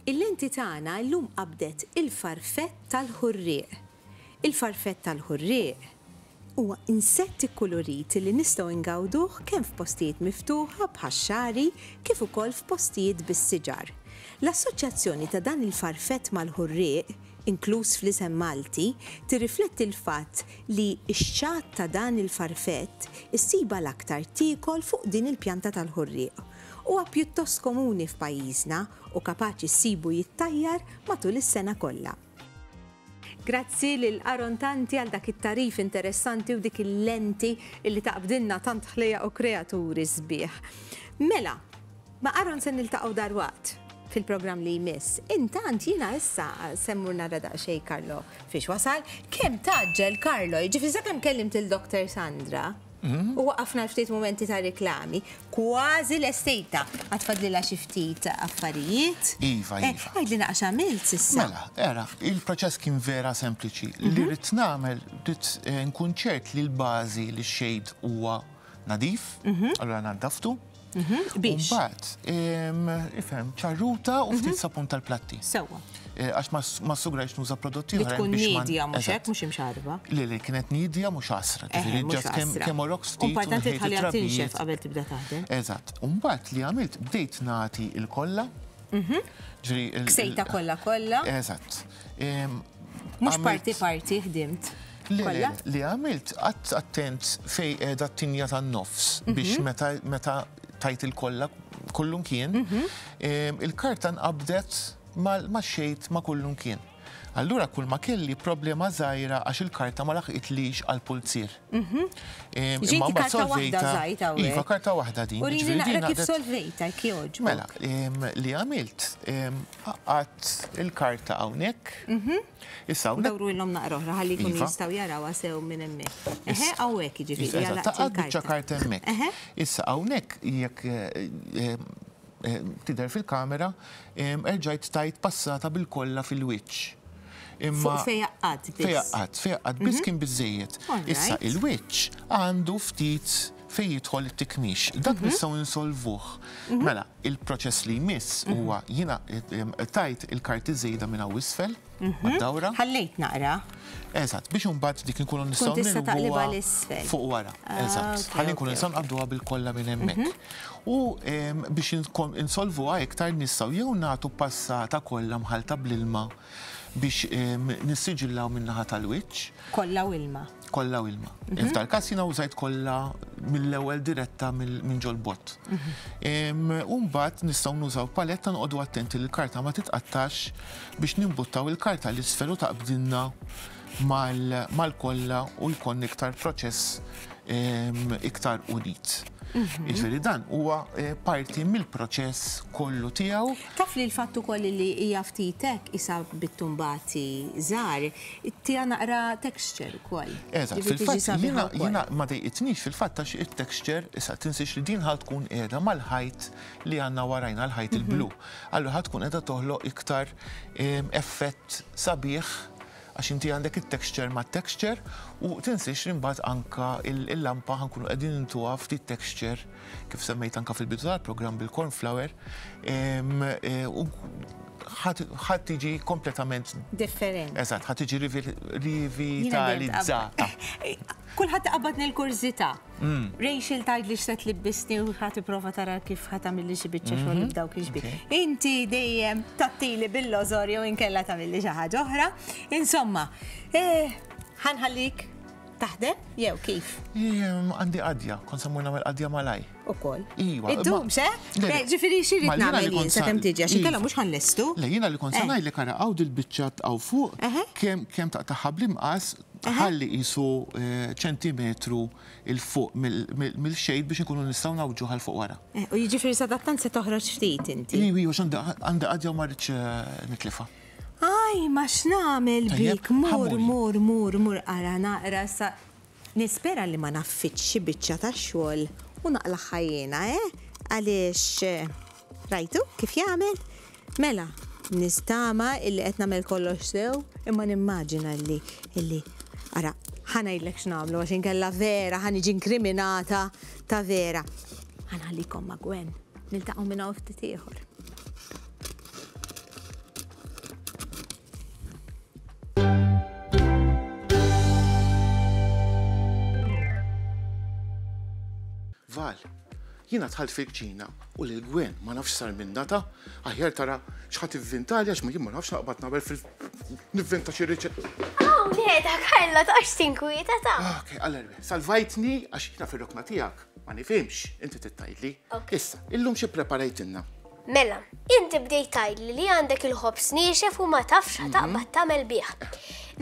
Il-lenti tagħna llum qabdet il-farfett tal-ħurrieq. Il-farfett tal-ħurrieq huwa insett ikkulurit li nistgħu ngawduh kemm f'postijiet miftuħa bħax-xagħri kif ukoll f'postijiet bis-siġar. L-assoċjazzjoni ta' dan il-farfett mal-ħurrieq inkluż fl-isem Malti, tirrifletti l-fatt li x-xatt ta' dan il-farfett issibha l-aktar tiekol fuq din il-pjanta tal-ħurrieq. Huwa pjuttost komuni f'pajjiżna u kapaċi ssibu jittajjar matul is-sena kollha. Grazzi lil Aaron Tanti għal dak it-tagħrif interessanti u dik il-lenti li taqbdilna tant ħlejjaq u kreaturi sbieħ. Mela, Ma' Aaron se niltaqgħu dalwaqt fil-programm li jmiss. Intant jiena issa se mmur nara daqsxejn Carlo fiex wasal. Kemm tgħaġġel Carlo, jiġifieri sakemm kellimt lil Doctor Sandra u waqafna għal ftit mumenti ta' riklami, kważi lestejtha. Għad fadlilha xi ftit affarijiet. Iva, iva. Eh, għidlina għax għamilt s'issa. Mela, ara, il-proċess kien vera sempliċi. Li ridt nagħmel, ridt nkun ċert li l-bażi, li x-shade huwa nadif, allura naddaftu. Mhm, biex. Mbagħad, ifhem, ċarruta u ftit mhm. sapun tal-platti. Sewwa. Eh, għax ma sugrajx nuża prodotti oħra. Tkun nidja mhux hekk mhux imxarba. Le le kienet nidja mhux għasra. Eh, ġifieri ġast kemm kemm orok ftit. Importanti tħalli tinxef qabel tibda taħdem. Eżatt. U mbagħad li għamilt bdejt nagħti il-kollha. Mhm. Ġri il-sejta kollha kollha. Eżatt. Mhux parti parti ħdimt. kollha. Li għamilt qatt attent fej qiegħda t-tinja tan-nofs mhm. biex meta meta tajt il-kollha kullum kien, mhm. ehm, il-karta nqabdet ma xejt ma kullum kien. Allura kull ma kelli problema zaħira għax il-karta ma laħqitlix għal pulzir. Mhm. Ehm, Ġinti karta wahda zaħita u. Iva, karta wahda din. U li naqra kif solvejta, kjoġ. Mela, ehm, li għamilt, Għadd il-karta hawnhekk. Mhm. Issa hawnhekk. Dawrulhom naqra oħra ħalli jkunu iva. jistgħu jarawha sew minn hemmhekk. Eħe hawnhekk jiġifieri għal Taqgħad biċċa karta hemmhekk. Issa hawnhekk jekk eh, eh, tidher fil-kamera erġajt tajt passata bil-kollha fil-wiċċ. Imma fejaqqat biss. Fejaqqat, fejaqqat biss mhm. kien biżejjed. Issa il-wiċċ għandu ftit fejn jidħol it-tikmix. Dak mhm. nistgħu insolvuh. Mela, Il-proċess li jmiss huwa jiena tajt il-karti żejda minn hawn isfel mad-dawra. Ħallejt naqra. Eżatt, biex imbagħad dik inkunu nistgħu nilbuha fuq wara. Eżatt. Ħalli nkunu nistgħu nqabbduha bil-kollha minn hemmhekk. U biex insolvuha iktar nistgħu jew nagħtu passata kollha mħallta bl-ilma biex nissiġillaw min-naħa tal-wiċċ. Kollha u ilma. Kollha u ilma. Mhm. F'tal każ jiena użajt kollha mill-ewwel diretta minn ġol-bott. Mhm. Umbat nistgħu nużaw paletta noqogħdu attenti li l-karta ma titqattax biex nimbuttaw il-karta li sferu taqbdinna mal-kollha u jkun iktar proċess iktar unit. Mhm. Iġveri dan huwa eh, parti mill-proċess kollu tiegħu. Taf li l-fatt ukoll li hija ftitek isa bit-tumbati żgħar Tiha naqra texture ukoll. Eżatt, fil-fatt jiena jiena ma dejqitnix fil-fatt għax it-texture, issa tinsiex li din ħa tkun qiegħda mal-ħajt li għandna warajna, l-ħajt il-blu. Allura ħa tkun qiegħda toħloq iktar effett sabiħ għax inti għandek it-texture mat-texture u tinsiex li mbagħad anke il-lampa ħa nkunu qegħdin intuha ftit texture kif semmejt anke fil-bidu tal-programm bil-corn flour ħadd tiġi kompletament. Differenti. Eżatt, ħadd tiġi rivitalizzata. Kulħadd iqabbad nil kurzita mm. Rachel tajd li xset li bisni u ħadd prova tara kif ħadd għamilli xi biċċa xogħol mhm. b'dawk iġbi. Inti dejjem tattili bil-lożor jew inkella tagħmilli xi ħaġa oħra. Insomma, eh, ħanħallik Taħdem jew kif? Għandi qadja, kon semmur nagħmel qadja malaj. Ukoll. Iwa. Iddum se? Ġifieri xiri nagħmel jien sa kemm tiġi għax inkella mhux ħannestu. Le jiena li kon se eh. ngħidlek ara hawn dil-biċċat hawn fuq kemm kemm taqtaħħa bl-imqas ħalli qisu eh, ċentimetru il fuq mill-xejn biex nkunu nistgħu nawġu għal fuq wara. Eh, u jiġifieri sadattant se toħroġ ftit inti. Iwi, għax għandi qadja u ma rridx nitlifa. Ajma x'nagħmel bik, mur, mur, mur, mur ara naqra sa Nispera li ma naffiċċ xi biċċa ta' xogħol u naqlagħha jiena, eh? Għaliex rajtu kif jagħmel? Mela, nistama illi qed nagħmel kollox sew, imma nimmaġina li illi ara ħa ngħidlek x'nagħmlu għax inkella vera ħa niġi inkriminata ta' vera. Ħanħallikom ma' Gwen, niltaqgħu minn hawn ftit ieħor. Val, jina tħalt fil-kċina u lil Gwen ma nafx sar minn data, aħjar tara xħat ivvintalja x'ma jien ma nafx naqbad nagħmel fil nivvinta xi riċet. Aw, le, ta' Karla ta' x'tinkwieta ta'. Ah, ok, għallerbe, salvajtni għax jina fil-rokna tiegħek ma nifhimx, inti tittajdli. Issa, illum xi preparajtinna? Mela, inti bdejt tgħidli li għandek il-ħobż niexef u ma tafx mhm. taqbad tagħmel bih.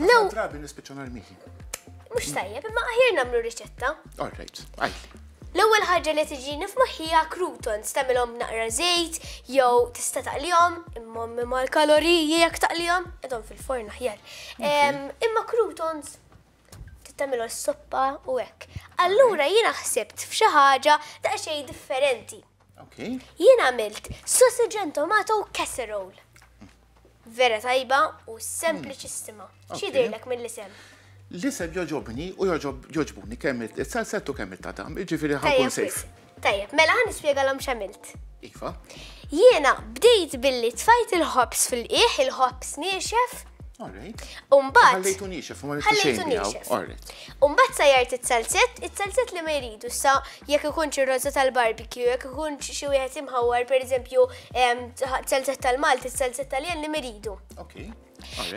Lew drabi nispiċċa narmihi. Mhux tajjeb, imma aħjar nagħmlu riċetta. All right, għajli. L-ewwel ħaġa li tiġini f'moħħija croutons tagħmilhom naqra żejt jew tista' taqlihom imma imma l-kaloriji jekk taqlihom qedhom fil-forn aħjar. Imma croutons tagħmilhom s-soppa u hekk. Allura jiena ħsibt f'xi ħaġa ta' xejn differenti. Jien għamilt sausage and tomato casserole. Vera tajba u sempliċissima. Hmm. Xidilek mill-isem? L-isem joġobni u joġobni kemm il-salsettu kemm il-tadam, iġifiri ħakun sejf. Tajjeb, mela ħan nispjegalhom x'għamilt. Iva. Jiena bdejt billi tfajt il-ħobs fil-qiegħ, il-ħobs niexef. Alright. Umbat. Ħallejtu niexef, ma rridx xejn niexef. Alright. Umbat sajart it-salzett, it-salzett li ma jridu sa jekk ikun xi roża tal-barbecue, jekk ikun xi wieħed imħawwar pereżempju salzett tal-Malti, salzett tal-jen li miridu. Okay.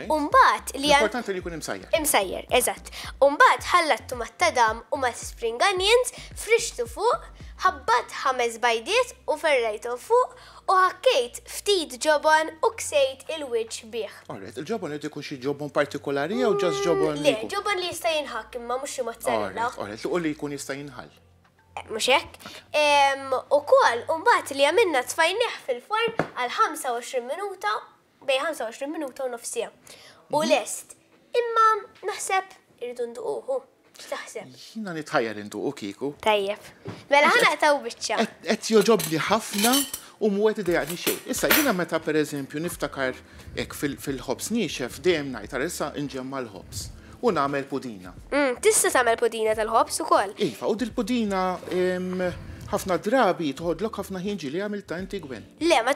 Umbat li Importanti li jkun imsajjer. Imsajjer, eżatt. Umbat ħallattu ma' tadam u ma' spring onions, frixtu fuq, ħabbat ħames bajdiet u ferrajtu fuq u ħakkejt ftit ġobon u ksejt il-wiċ bih. Alright, il-ġobon li ikun xi ġobon partikolari jew ġas mm, ġobon? Le, ġobon li jista' jinħak imma mhux xi mozzarella. Alright, u li jkun jista' jinħal. Eh, mhux hekk. U kol, umbat li għamilna tfajnieh fil-forn għal 25 minuta bej 25 minuta u nofsija. U mhm. lest, imma naħseb irridu nduquhu. X'taħseb? Jina nitħajjar intuqu kiku. Tajjeb. Mela ħana taw biċċa. Qed joġobni ħafna u mwet idejaqni xejn. Issa jiena meta pereżempju niftakar hekk fil-ħobs niexef dejjem ngħid ara issa nġemma l-ħobs u nagħmel pudina. Mm, tista' tagħmel pudina tal-ħobs ukoll. Iva, u dil-pudina ħafna drabi toħodlok ħafna ħin ġili għamilta inti gwen. Le, ma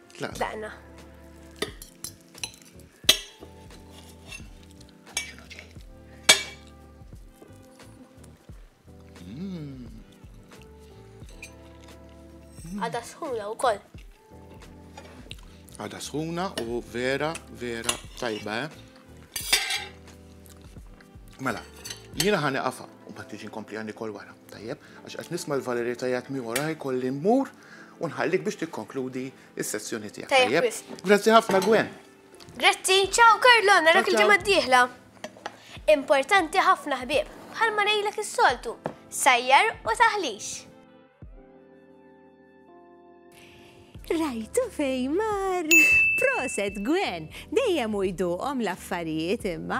Tlaqna. Tlaqna. Għada sħuna u koll. Għada sħuna u vera, vera tajba, eh? Mela, jina ħani għafa, u ma tiġi nkompli għanni kol wara, tajjeb, għax għax nisma l-valerita jgħat mi wara jkolli mur U nħallik biex tikkonkludi s-sessjoni tiegħek. Tajjeb wisq. Grazzi ħafna Gwen. Grazzi, ciao Karlo, narak il-ġimgħa d-dieħla. Importanti ħafna ħbieb, bħalma ngħidlek is-soltu, sajjar u taħlix. Rajtu fej mar. Proset, Gwen, dejjem u jduqom l-affarijiet imma.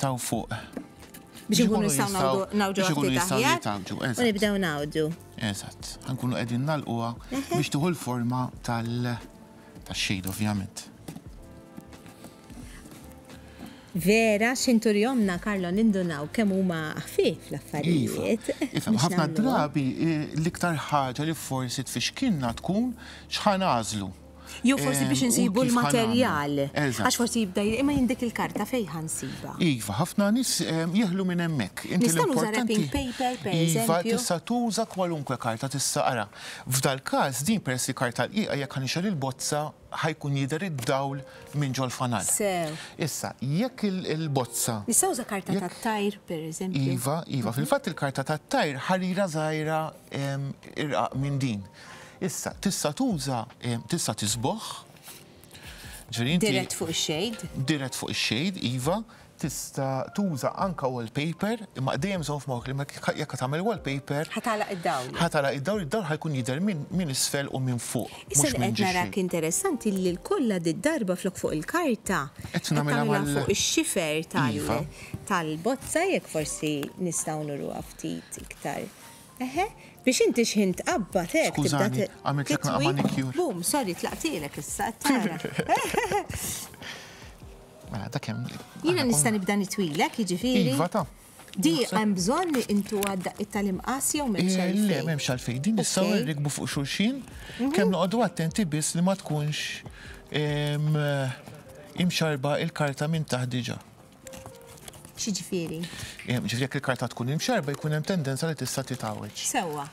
taw fuq. Biex ikunu jistgħu nawdu nawdu ikunu jistgħu jitgħamġu. U nibdew nawdu. Eżatt, ħankunu qegħdin nalquha biex tieħu l-forma tal tax-xejn ovvjament. Vera, xintur jomna, Karlo, nindunaw kemm huma ħfif l-affarijiet. Iva, ħafna drabi eh, l-iktar ħaġa li forsi tfixkinna tkun xħan għażlu. Jew forsi biex insibu l-materjal. Għax forsi jibda imma jindik il-karta fejn ħansiba. Iva, ħafna nies jeħlu minn hemmhekk. Nista' nuża wrapping paper per eżempju. Iva, tista' tuża kwalunkwe karta tista' ara. F'dal-każ din peress li karta rqiqa jekk ħanixgħel il-bozza ħajkun jidher id-dawl minn ġol-fanal. Sew. Issa, jekk il-bozza. Nista' uża karta tat-tajr per eżempju. Iva, iva, fil-fatt il-karta tat-tajr ħarira żgħira irqaq minn din. Issa, tista' tuża, tista' tisboħ. Dirett fuq ix-shade. Dirett fuq ix-shade, iva. Tista' tuża anka wallpaper, imma dejjem żomm f'moħħok li jekk qed tagħmel wallpaper. Ħa tagħlaq id-dawl. Ħa tagħlaq id-dawl, id-dawl ħa jkun jidher minn isfel u minn fuq. Issa li qed nara interessanti li l-kollha did-darba flok fuq il-karta. Qed nagħmilha fuq ix-xifer tal-bozza, jekk forsi nistgħu nuruha ftit iktar. Eħe, biex inti xħin tqabbad hekk tibda. Skużani, għamiltlek naqgħa manicure. Boom, sorry, tlaqtilek issa, qed tara. Mela, dak hemm. Jiena nista' nibda nitwilek, jiġifieri. Iva ta. Di hemm bżonn li intu għadda it-tal-imqas jew m'hemmx eh, għalfejn. Le, m'hemmx għalfejn. Din nistgħu nirrikbu fuq xulxin, mhm. kemm noqogħdu attenti biss li ma tkunx imxarba il-karta minn taħt diġà. X'ġifieri? Eh, ġifieri jekk il-karta tkun imxerba jkun hemm tendenza li tista' titgħawġ. Sewwa.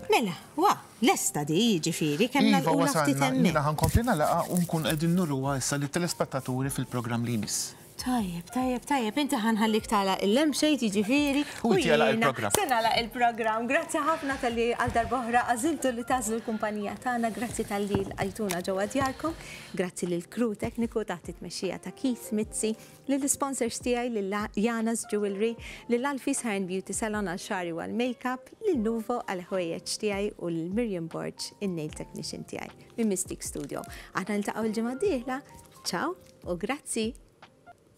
Mela, wa, lesta di, ġifieri, kemm iva, nagħlqu ftit hemm. Jiena ħankompli nagħlaqha u nkun qegħdin nurruha issa lit-telespettaturi fil-programm li jmiss. Tajjeb, tajjeb, tajjeb, inti ħanħallik tala il-lem xejt jiġifieri. U jgħala il-program. Senala il-program, grazzi ħafna tal-li għal darbohra għaziltu li tażlu l-kumpanija tagħna, grazzi tal-li l-għajtuna ġewwa djarkom. Grazzi lill-crew tekniku taħt it-tmexxija ta' Keith Mizzi, lill-isponsors tiegħi lil Janas Jewellery, lil Alfie's Hair and Beauty Salon għal xagħri u għall-makeup, lil Nuvo għall-ħwejjeġ tiegħi u lil Miriam Borg, in-nail technician tiegħi, minn Mystique Studio. Aħna niltaqgħu l-ġimgħa d-dieħla. Ciao u grazzi!